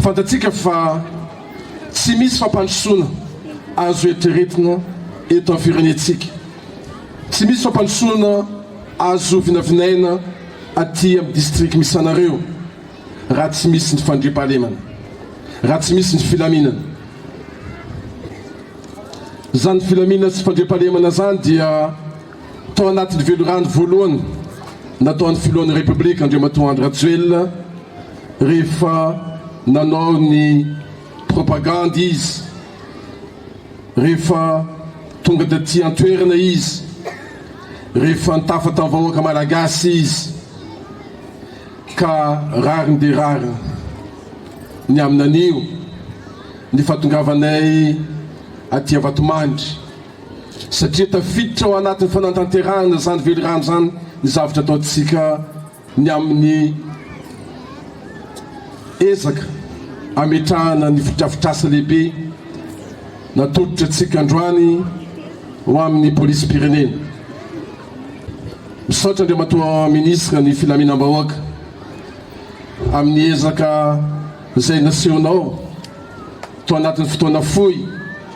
Fantatsika fa tsy misy fampandrosoana azo eritreretina eto amin'ny firenentsika, tsy misy fampandrosoana azo vinavinaina aty amin'ny district misy anareo raha tsy misy ny fandriampahalemana, raha tsy misy ny filaminana. Izany filaminana sy fandriampahalemana izany dia. Tao anatin'ny velirano voalohany nataon'ny filohan'ny Repoblika Andriamatoa Andry Rajoelina rehefa nanao ny propagandy izy, rehefa tonga taty an-toerana izy, rehefa nitafa tamin'ny vahoaka Malagasy izy ka rariny dia rariny ny amin'anio ny fahatongavanay aty Vatomandry. satria tafiditra ao anatin'ny fanantanterahana izany velirano izany ny zavatra ataontsika ny amin'ny ezaka ametrahana ny fotodrafitrasa lehibe natolotra antsika androany ho amin'ny polisim-pirenena. Misaotra Andriamatoa Minisitra ny Filaminam-bahoaka amin'ny ezaka izay nasehonao tao anatin'ny fotoana fohy.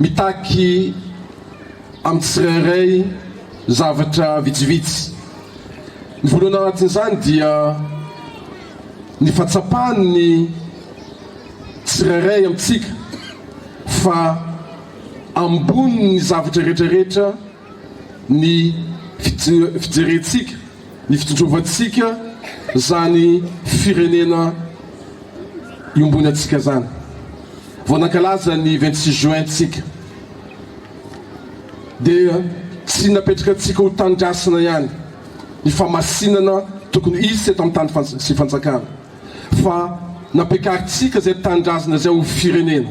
Mitaky amin'ny tsirairay zavatra vitsivitsy. Ny voalohany ao anatin'izany dia ny fahatsapan'ny tsirairay amintsika fa ambonin'ny zavatra rehetra rehetra, ny fijerentsika, ny fitondrovantsika izany firenena iombony antsika izany vao nankalaza ny vingt six juin antsika dia tsy napetraka antsika ho tanindrazana ihany ny famasinana tokony hisy eto amin'ny tany sy fanjakana fa nampiakarintsika izay tanindrazana izay ho firenena.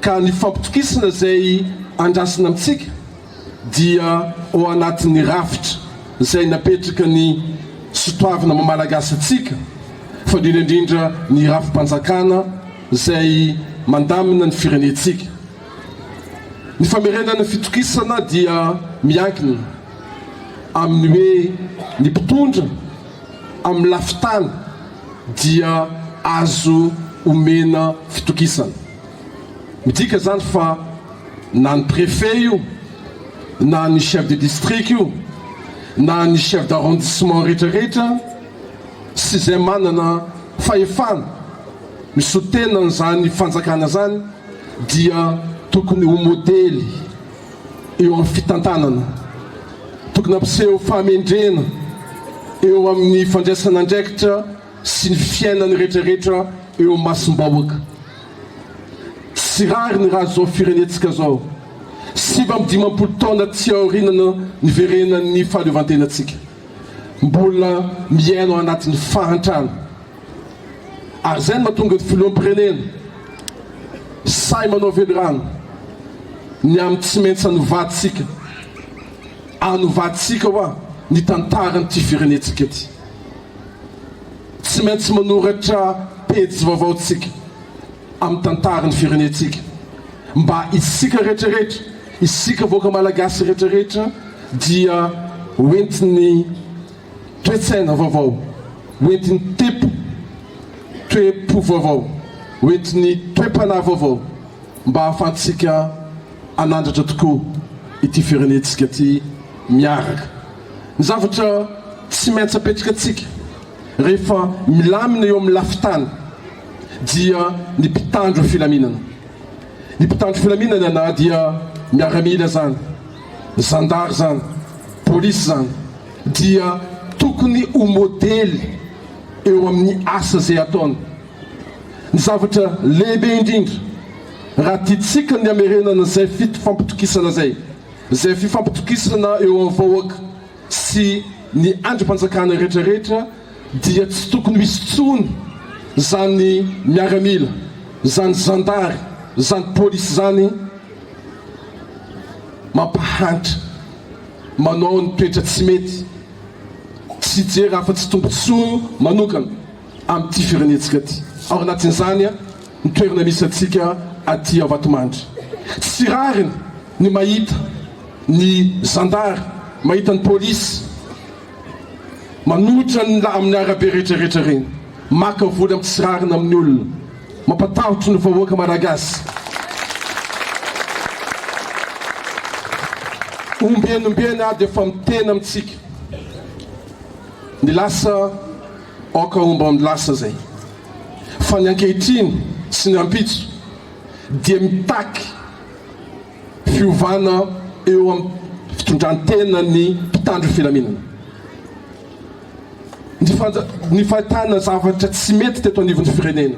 ka ny fampitokisana izay andrasana amintsika dia ao anatin'ny rafitra izay napetraka ny sotoavina maha Malagasy antsika fa indrindra indrindra ny rafi-panjakana izay mandamina ny firenentsika. Ny famerenana fitokisana dia miankina amin'ny hoe ny mpitondra, amin'ny lafin-tany dia azo omena fitokisana. Midika izany fa na ny préfet io, na ny chef de district io, na ny chef d'arrondissement rehetrarehetra sy izay manana fahefana misoa tena an'izany fanjakana izany dia tokony ho modely. eo amin'ny fitantanana. Tokony hampiseho fahamendrena eo amin'ny fandraisana andraikitra sy ny fiainan'ny rehetrarehetra eo amin'ny masom-bahoaka. Tsy rariny raha izao firenentsika izao, sivy amby dimampolo taona aty aoriana niverenan'ny fahaleovantenantsika, mbola miaina ao anatin'ny fahantrana. Ary izay no mahatonga ny filoham-pirenena sahy manao velirano ny amin'ny tsy maintsy hanovantsika, hanovantsika ho'a, ny tantaran'ity firenentsika ity. Tsy maintsy manoratra pejy vaovao tsika amin'ny tantaran'ny firenentsika mba isika rehetra rehetra, isika vahoaka Malagasy rehetra rehetra dia hoentin'ny. toe-tsaina vaovao hoentin'ny tempo, toe-po vaovao hoentin'ny toe-panahy vaovao mba hahafahantsika hanandratra tokoa ity firenentsika ity miaraka. Ny zavatra tsy maintsy apetrakantsika rehefa milamina eo amin'ny lafin-tany dia ny mpitandro filaminana. Ny mpitandro filaminana na dia miaramila izany, zandary izany, polisy izany, dia tokony ho modely eo amin'ny asa izay ataony. Ny zavatra lehibe indrindra raha tiantsika ny hamerenana izay fifampitokisana izay, izay fifampitokisana eo amin'ny vahoaka sy ny andrim-panjakana rehetra rehetra dia tsy tokony ho hisy intsony izany miaramila, izany zandary, izany polisy izany mampahantra. manao ny toetra tsy mety, tsy hijery afa-tsy tombontsoany manokana amin'ity firenentsika ity. Ao anatin'izany ny toerana misy antsika aty ao Vatomandry. Tsy rariny ny mahita ny zandary, mahita ny polisy, Manohitra ny la amin'ny arabe rehetra rehetra reny. Maka vola amin'ny tsy rariny amin'ny olona. Mampatahotry ny vahoaka Malagasy. Ombieny ombieny ady efa miteny amintsika. Ny lasa aoka homba ny lasa izay. Fa ny ankehitriny sy ny ampitso dia mitaky. fiovana eo amin'ny fitondran-tenan'ny mpitandro ny filaminana. Ny fanja- ny fahitana zavatra tsy mety teto anivon'ny firenena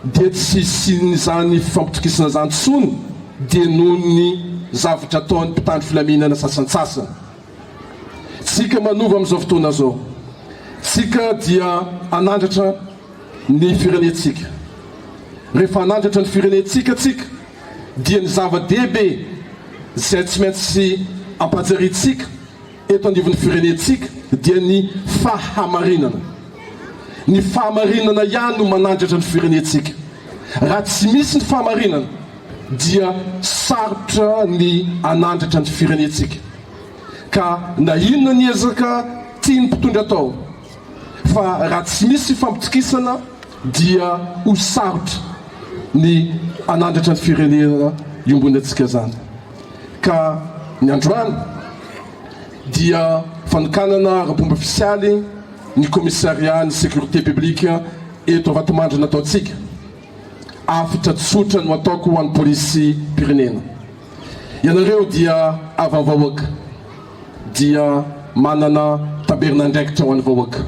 dia tsy hisian'izany fifampitokisana izany intsony dia noho ny zavatra ataon'ny mpitandro filaminana sasantsasany. Tsika manova amin'izao fotoana izao. Tsika dia hanandratra ny firenentsika. Rehefa hanandratra ny firenentsika tsika, dia ny zava-dehibe izay tsy maintsy ampahatsiahiantsika eto anivon'ny firenentsika dia ny fahamarinana. Ny fahamarinana ihany no manandratra ny firenentsika. Raha tsy misy ny fahamarinana dia sarotra ny hanandratra ny firenentsika. Ka na inona ny ezaka tian'ny mpitondra atao fa raha tsy misy fampitokisana dia ho sarotra ny hanandratra ny firenena iombonantsika izany ka ny androany dia fanokanana ara-pomba ofisialy ny commissariat ny sécurité publique eto Vatomandry nataontsika afitra tsotra no ataoko ho an'ny polisim-pirenena ianareo dia havam-vahoaka dia manana tabernandraikitra ho an'ny vahoaka.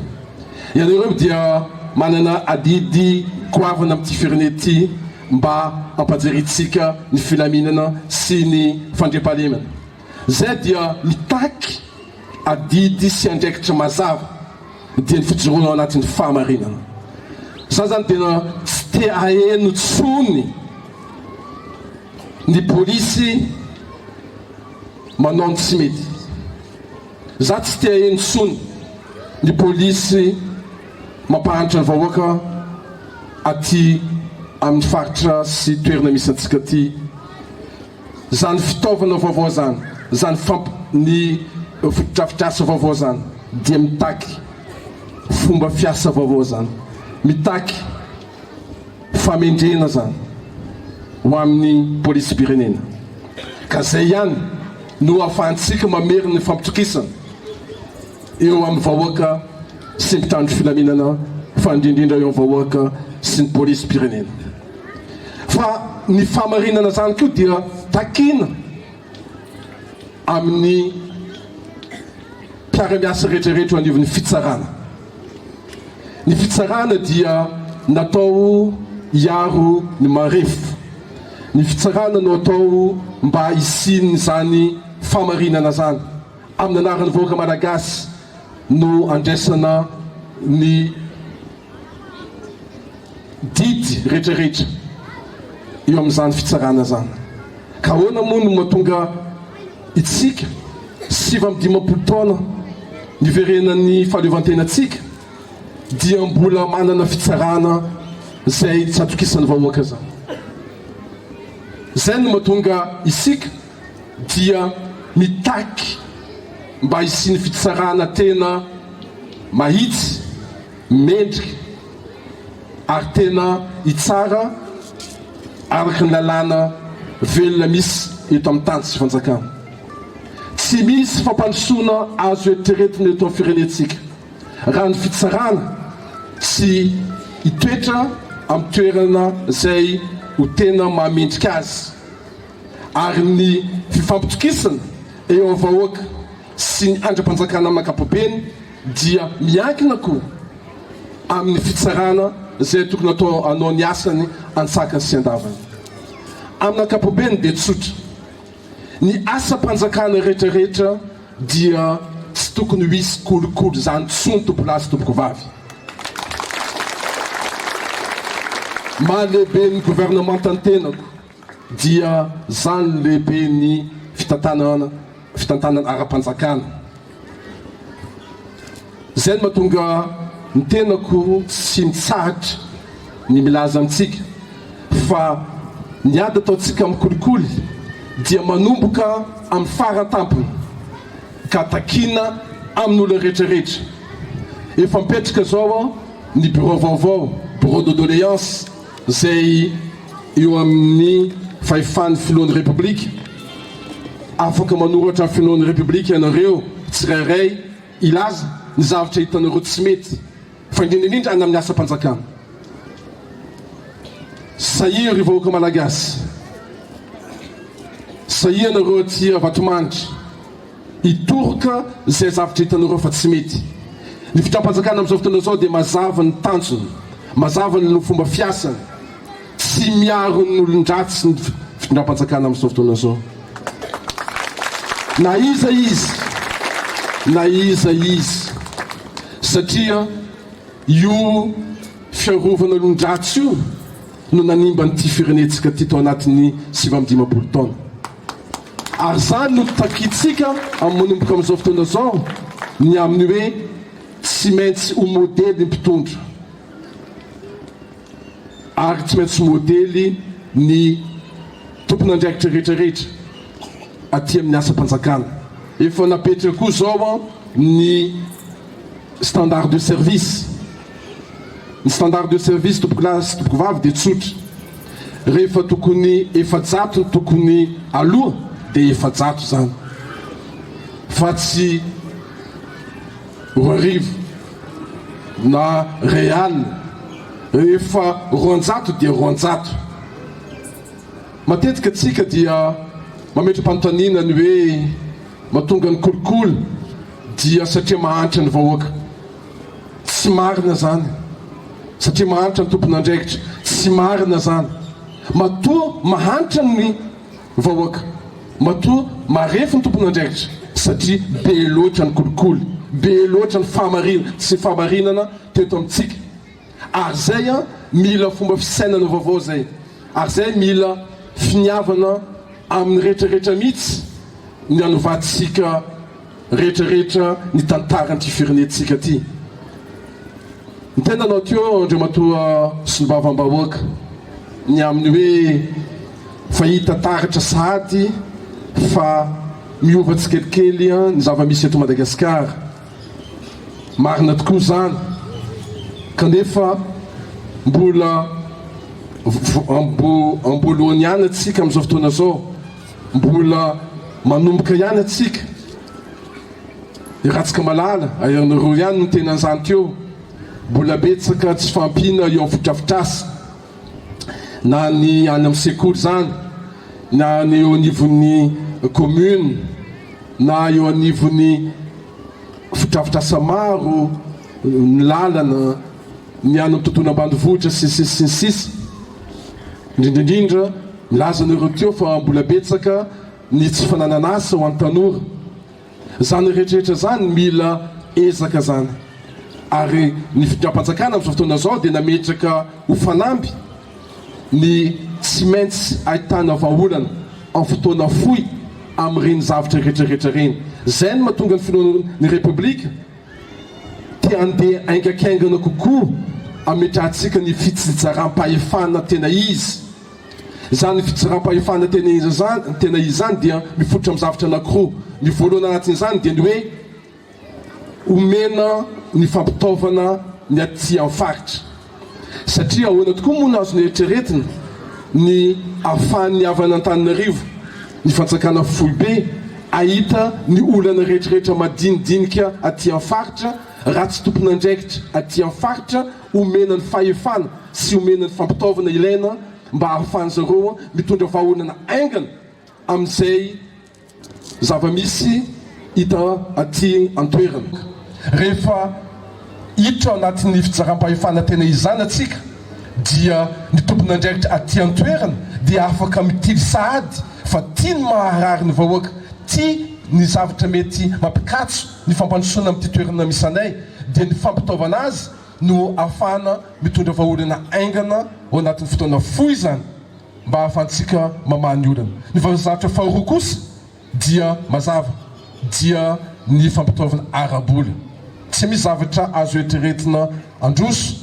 Ianareo dia manana adidy goavana amin'ity firenena ity mba hampajerentsika ny filaminana sy ny fandriampahalemana. Izay dia mitaky adidy sy andraikitra mazava, dia ny fijoroana ao anatin'ny fahamarinana. Izaho izany tena tsy te haheno intsony ny polisy. manao ny tsy mety. Za tsy te haheno intsony ny polisy mampahantra ny vahoaka aty amin'ny faritra sy toerana misy antsika aty. Zany fitaovana vaovao zany, zany famp ny fotodrafitrasa vaovao zany dia mitaky fomba fiasa vaovao zany, mitaky. Famendrena zany ho amin'ny polisim-pirenena ka zay ihany no ahafahantsika mamery ny fampitokisana eo amin'ny vahoaka sy mpitandro filaminana fa indrindrindra eo amin'ny vahoaka sy ny polisim-pirenena fa ny fahamarinana zany koa dia takina amin'ny mpiara-miasa rehetra rehetra eo anivon'ny fitsarana. Ny fitsarana dia natao hiaro ny marefo. Ny fitsarana no atao mba hisian'izany fahamarinana izany. Amin'ny anaran'ny vahoaka Malagasy no andraisana ny didy rehetrarehetra eo amin'izany fitsarana izany. Ka ahoana moa no mahatonga Isika, sivy amby dimampolo taona niverenan'ny fahaleovantenantsika dia mbola manana fitsarana izay tsy atokisan'ny vahoaka izany. Izay no mahatonga isika dia mitaky mba hisian'ny fitsarana tena mahitsy. Mendrika ary tena hitsara araka ny lalàna velona misy eto amin'ny tany sy fanjakana. Tsy misy fampandrosoana azo eritreretina eto amin'ny firenentsika raha ny fitsarana tsy hitoetra amin'ny toerana izay ho tena maha mendrika azy ary ny fifampitokisana eo amin'ny vahoaka sy ny andrimpanjakana amin'ny ankapobeny dia miankina koa amin'ny fitsarana izay tokony atao hanao ny asany antsakany sy andavany. Amin'ny ankapobeny dia tsotra, ny asam-panjakana rehetra rehetra dia tsy tokony ho hisy kolikoly izany tsony tompolahy sy tompokovavy. Maha lehiben'ny governemanta ny tenako. dia zany lehibe ny fitantanana fitantanana ara-panjakana zay no mahatonga ny tenako tsy mitsahatra ny milaza amintsika fa ny ady ataontsika amin'ny kolikoly dia manomboka amin'ny fara-tampony ka takiana amin'olona rehetra rehetra efa mipetraka zao ny birao vaovao, bureau de doléance. izay eo amin'ny fahefan'ny filohan'ny Repoblika, afaka manoratra ny filohan'ny Repoblika ianareo tsirairay hilaza ny zavatra hitanareo tsy mety fa indrindra indrindra any amin'ny asam-panjakana. Sahia ry vahoaka Malagasy, sahia ianareo aty Vatomandry. Hitoroka izay zavatra hitanareo fa tsy mety. Ny fitram-panjakana amin'izao fotoana izao dia mazava ny tanjony, mazava ny fomba fiasany. Tsy miaro ny olon-dratsy ny fitondram-panjakana amin'izao fotoana izao. Na iza izy, na iza izy. Satria io fiarovana olon-dratsy io no nanimba an'ity firenentsika ity tao anatin'ny sivy amby dimampolo taona. Ary izany no takintsika manomboka amin'izao fotoana izao ny amin'ny hoe tsy maintsy ho modely ny mpitondra ary tsy maintsy ho modely ny tompon'andraikitra rehetra rehetra aty amin'ny asam-panjakana. Efa napetraka koa izao ny standard de service. Ny standard de service tompokolahy sy tompokovavy dia tsotra, rehefa tokony efajato ny tokony aloha dia efajato izany fa tsy roa arivo na iray alina, rehefa roanjato dia roanjato. Matetika tsika dia mametra-panontaniana ny hoe matonga ny kolikoly dia satria mahantra ny vahoaka. Tsy marina zany satria mahantra ny tompon'andraikitra. Tsy marina zany. Matoa mahantra ny vahoaka, matoa marefo ny tompon'andraikitra satria be loatra ny kolikoly, be loatra ny fahamarinan tsy fahamarinana teto amintsika. Ary zay an mila fomba fisainana vaovao zay. Ary zay mila finiavana amin'ny rehetra rehetra mihitsy ny hanovantsika. rehetrarehetra ny tantaran'ity firenentsika ity. Ny tena anao teo Andriamatoa Solombavambahoaka ny amin'ny hoe fa hita taratra sahady fa miova tsikelikely ny zava-misy eto Madagasikara. Marina tokoa izany kanefa mbola am-boalohany ihany antsika amin'izao fotoana izao. Mbola manomboka ihany atsika. I Ratsika Malala aerinareo ihany no tena anzany teo. Mbola betsaka tsy fahampiana eo am fodrafitrasa. Na ny any am sekoly izany, na ny eo anivon'ny commune, na eo anivon'ny fodrafitrasa maro, ny lalana. ny any amin'ny tontolo ambanivohitra sy ny sisa sy ny sisa, indrindra indrindra milaza anao ireo teo fa mbola betsaka ny tsy fananana asa ho an'ny tanora, izany rehetrarehetra izany mila ezaka izany ary ny fitondram-panjakana amin'izao fotoana izao dia nametraka ho fanamby ny tsy maintsy ahitana vahaolana amin'ny fotoana fohy amin'ireny zavtra rehetrarehetra ireny, izay no mahatonga ny filohan'ny repoblika te handeha haingakaingana kokoa hametrahantsika ny fitsinjaram-pahefana tena izy. Izany fitsinjaram-pahefana tena izy izany, tena izy izany dia mifototra amin'ny zavatra anankiroa. Ny voalohany anatin'izany dia ny hoe omena ny fampitaovana ny aty amin'ny faritra. Satria ahoana tokoa moa no azo noeritreretina ny ahafahan'ny havan'Antananarivo, ny fanjakana foibe, hahita ny olana rehetrarehetra madinidinika aty amin'ny faritra raha tsy tompon'andraikitra aty amin'ny faritra omena ny fahefana sy omena ny fampitaovana ilaina mba hahafahan'izareo mitondra vahaolana haingana amin'izay Zava-misy hita aty an-toerana. Rehefa hiditra ao anatin'ny fitsaram-pahefana tena izana tsika dia ny tompon'andraikitra aty an-toerana dia afaka mitily sahady fa tia ny maharary ny vahoaka, tia ny zavatra mety mampikatso ny fampandrosoana amin'ity toerana misy anay dia ny fampitaovana azy no ahafahana mitondra vahaolana haingana ao anatin'ny fotoana fohy izany. mba hahafahantsika mamaha ny olana. Ny vaozahatra faharoa kosa dia mazava, dia ny fampitaovana ara-bola. Tsy misy zavatra azo eritreretina handroso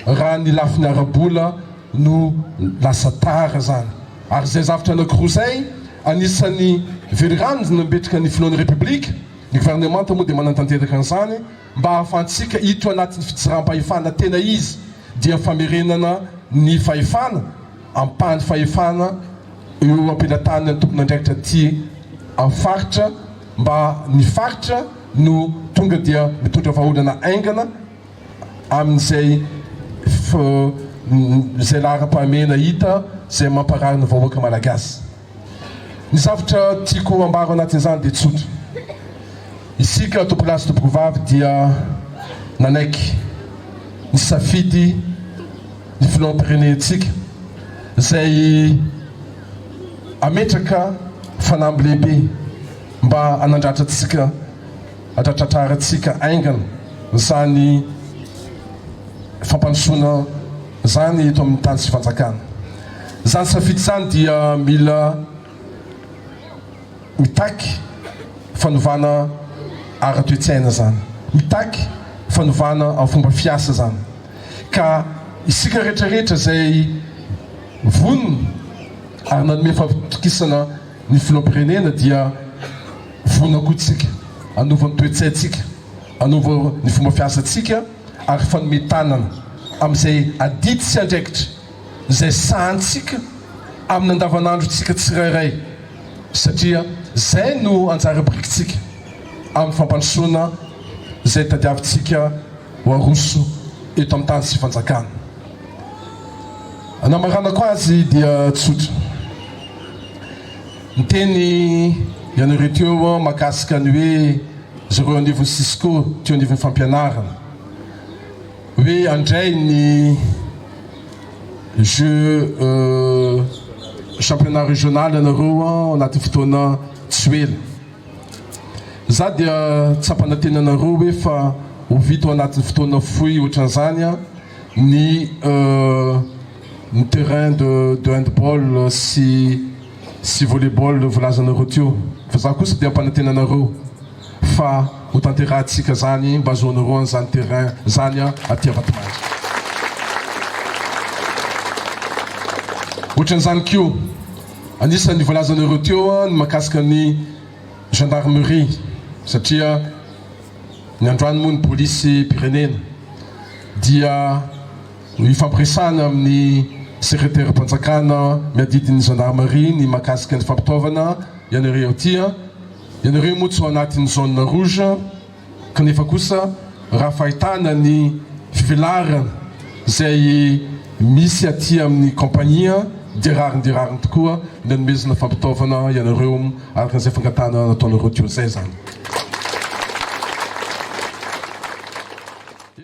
raha ny lafiny ara-bola no lasa tara izany. Ary izay zavtra anankiroa izay, anisan'ny velirano nanbetraka ny filohan'ny Repoblika, ny governemanta moa dia manantanteraka an'izany, mba hahafahantsika hiditra anatin'ny fijerampahefana tena izy dia famerenana ny fahefana ampahany fahefana eo ampelataniny ny tompon'andraikitra aty amin'ny faritra mba ny faritra no tonga dia mitondra vahaolana haingana amin'izay izay laharam-pahamehana hita izay mamparary ny vahoaka malagasy. Ny zavtra tiako ambaro anatin'izany dia tsotra. Isika tompolahy sy tompokovavy dia nanaiky nisafidy ny filoham-pirenentsika izay hametraka fanamby lehibe mba hanandratra antsika, handratratrarantsika haingana izany fampandrosoana. Izany eto amin'ny tany sy fanjakana. Izany safidy izany dia mila mitaky fanovana ara-toe-tsaina izany, mitaky fanovana amin'ny fomba fiasa izany. Ka isika rehetra rehetra izay vonona ary nanome fahatokisana ny filoham-pirenena dia vonona koa isika hanova ny toe-tsaintsika, hanova ny fomba fiasantsika. ary fanome tanana amin'izay adidy sy andraikitra izay sahantsika amin'ny andavanandrontsika tsirairay satria izay no anjara birikintsika amin'ny fampandrosoana izay tadiavintsika ho aroso eto amin'ny tany sy fanjakana anamaranako azy dia tsotra. Niteny ianareo teo aho mahakasika ny hoe zareo anivon'ny Cisco teo anivon'ny fampianarana hoe handray ny jeux championnat régional ianareo ao anatin'ny fotoana tsy ho ela. Za dia tsy hampanantena anareo hoe fa ho vita ao anatin'ny fotoana fohy ohatran'izany ny ny terrain de de handball sy sy volleyball no volazanareo teo fa za kosa de ampanantena anareo fa ho tanterahantsika zany mba azoanareo an zany terrain zany an aty Ambatomanga otran'zany ko anisan'ny volazanareo teo an ny makasika ny gendarmerie satria ny androany moa ny polisy pirenena dia Nifampiresahana amin'ny Sekreteram-panjakana miadidy ny Zandarimaria ny mahakasika ny fampitaovana ianareo aty. Ianareo moa tsy ao anatin'ny zone rouge kanefa kosa raha fahitana ny fivelarana izay misy aty amin'ny Compagnie dia rariny dia rariny tokoa ny anomezana fampitaovana ianareo araka izay fangatahana nataonareo teo izay izany.